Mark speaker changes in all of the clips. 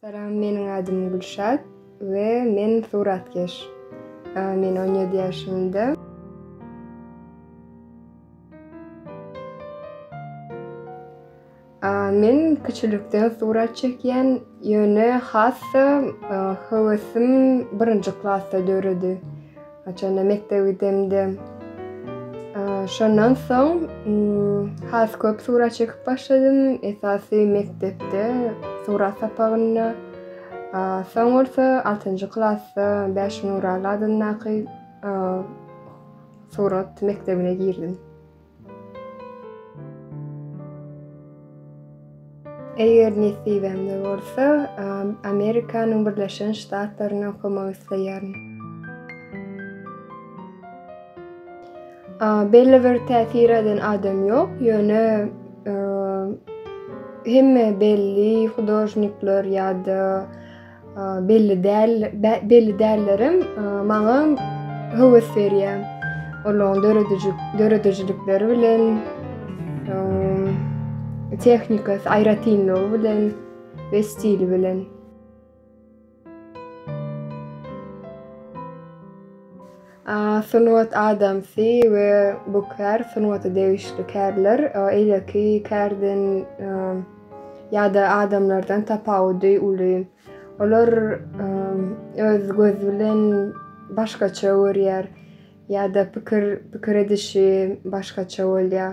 Speaker 1: Salam, meniň adym Gülşat we men suratkeş. Men on ýedi ýaşymda. Men kiçilikden surat çekýän, ýöne has-da höwesim birinji klasda döredi. Haçanda mekdebe gidemdim. Şondan soň has köp surat çekip başladym. Esasy mekdepde surat sapagynda. Soň bolsa 6-njy klasda Bäş Nuraly adyndaky surat mekdebine girdim. Eger nesibemde bolsa, Amerikanyň Birleşen Ştatlarynda okamak isleýärin. Belli bir täsir eden adam ýok, ýöne hemme belli hudožnikler ýa-da Belli däl, belli dällerim maňa höwes berýär. Olaryň döredijilik, döredijilikleri bilen tehnikasy, aýratynlygy bilen we stili bilen. Sungat adamsy we bu kär sungata degişli kärler eýleki kärden ýa-da adamlardan tapawudy uly. Olar öz gözi bilen başgaça görýär ýa-da pikir pikir edişi başgaça bolýar.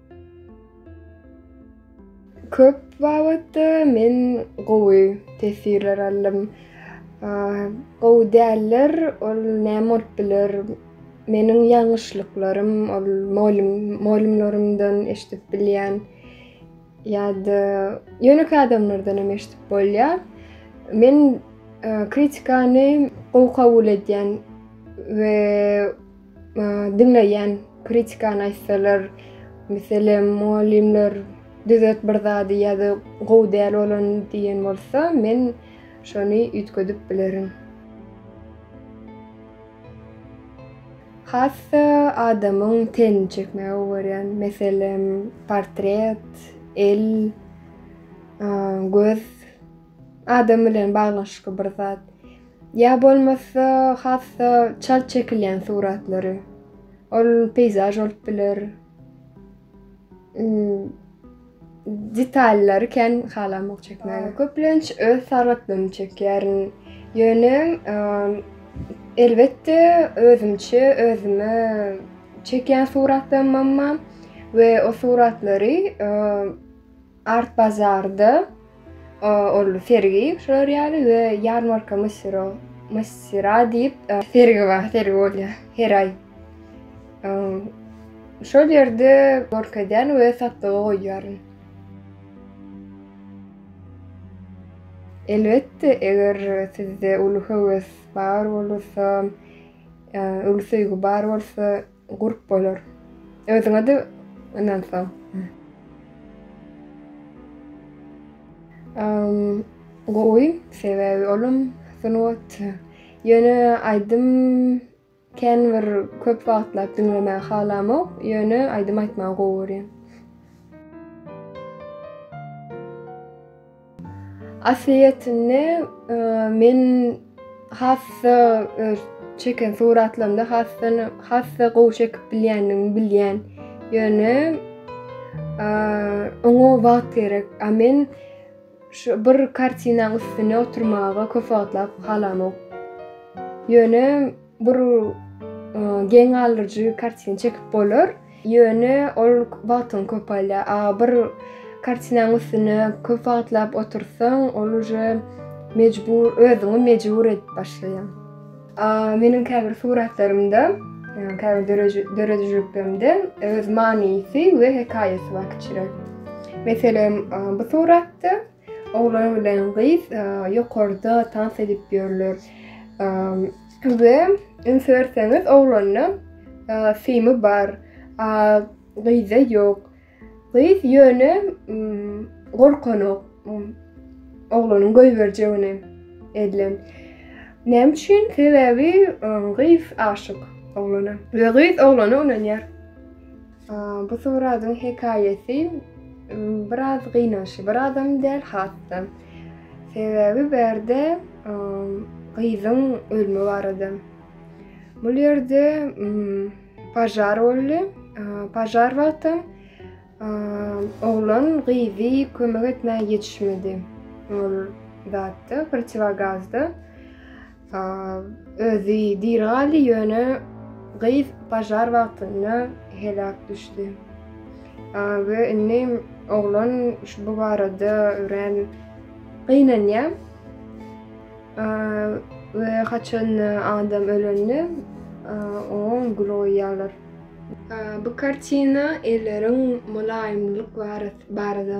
Speaker 1: Köp babatda men gowy tesirler aldym. Gowy däller, ol näme bolup biler? Meniň ýalňyşlyklarym, ol molym, molymlarymdan eşidip bilýän ýa-da ýönekeý adamlardan hem eşidip bolýar. Men kritikany gowy kabul edýän we Diňleýän kritikany aýtsalar, meselem, mugallymlar düzet bir zady ýa-da gowy däl bolany diýen bolsa, men şony üýtgedip bilerin. Hassa adamyň tenini çekmegi gowy görýän. Meselem, portret, el, göz Adam bilen baglanyşykly bir zat. Ýa bolmasa has-da çalt çekilýän suratlary. Ol peýzaž bolup biler. Detallary kän halamok çekmäge. Köplenç öz sagatlygymy çekýärin. Ýöne elbetde özümçe özüme çekýän suratlarymam bar we o suratlary Art bazarda ol sergi şular ýaly we ýarmarka Msiro, Msira diýip sergi bar, sergi bolýar her aý. Şol ýerde görkezýän we satlyga goýýaryn. Elbetde, eger sizde uly höwes bar bolursa, uly söýgi bar bolsa, Gurp bolar. Özüňe-de ynansaň. Gowy, sebäbi olam sungat. Ýöne aýdym kän bir köp wagtlap diňlemäge halamok, ýöne aýdym aýtmagy gowy görýän. Aslyýetinde men has-da öz çeken suratlarymda has-da has-da gowy çekip bilýändigimi bilýän. Ýöne oňa wagt gerek. A men şu bir kartinaň üstüne oturmaga köp wagtlap halamok. Ýöne Bir geň galyjy kartina çekip bolar. Ýöne ol wagtyň köp alýar. A bir kartinaň üstüne köp wagtlap otursaň, ol uje mejbur, özüňi mejbur edip başlaýaň. A meniň käbir suratlarymda, käbir döredijiliklerimde öz manysy we hekaýasy bar kiçiräk. Meselem, bu suratda Oglan bilen gyz ýokarda tans edip ýörler we üns berseňiz oglanda simi bar, a gyzda ýok. Gyz ýöne gorkanok oglanyň goýberjegine elden. Näme üçin? Sebäbi gyz aşyk oglana we gyz oglana ynanýar. Bu suradyň hekaýaty biraz gynançly, birazam däl has-da. Sebäbi bärde gyzyň ölme barada. Bu ýerde pažar boldy. Pažar wagtam oglan gyzy kömek etmäge ýetişmedi. Ol zatda, protiwogazda. Özi diri galdy, ýöne gyz pažar wagtynda heläk düşdi. We indi oglan bu barada örän gynanýar. We haçan adam ölende oňa gül goýýarlar. Bu kartina elleriň mylaýymlyk barada.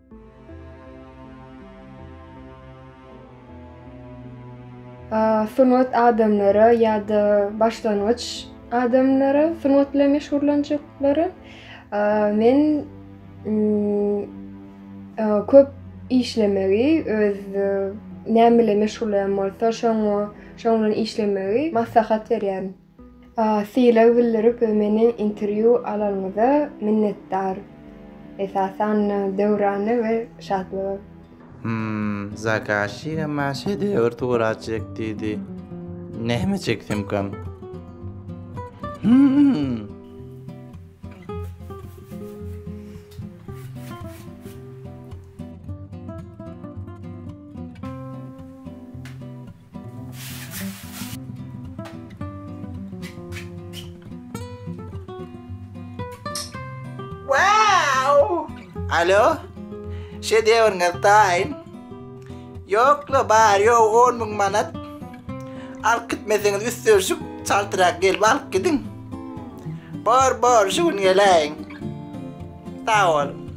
Speaker 1: Sungat adamlara ýa-da başlangyç adamlara sungat bilen meşgullanjaklara men köp işlemegi öz näme bilen meşgullanýan bolsa şoň bilen işlemegi maslahat berýärin. Sylag bildirip meni interwýu alanyňyza minnetdar. Esasan Döwrana we Şatlyga. Hmmm zakaşyga
Speaker 2: maň şedewr surat çek diýdi. Näme çeksemkam? Hmmm. Alo? Şedewrňiz taýyn. Ýokla bar ýok 10 müň manat. Alyp gitmeseňiz üstünşik çaltrak gelip alyp gidiň. Bor bor şu gün geläýiň. Sag boluň.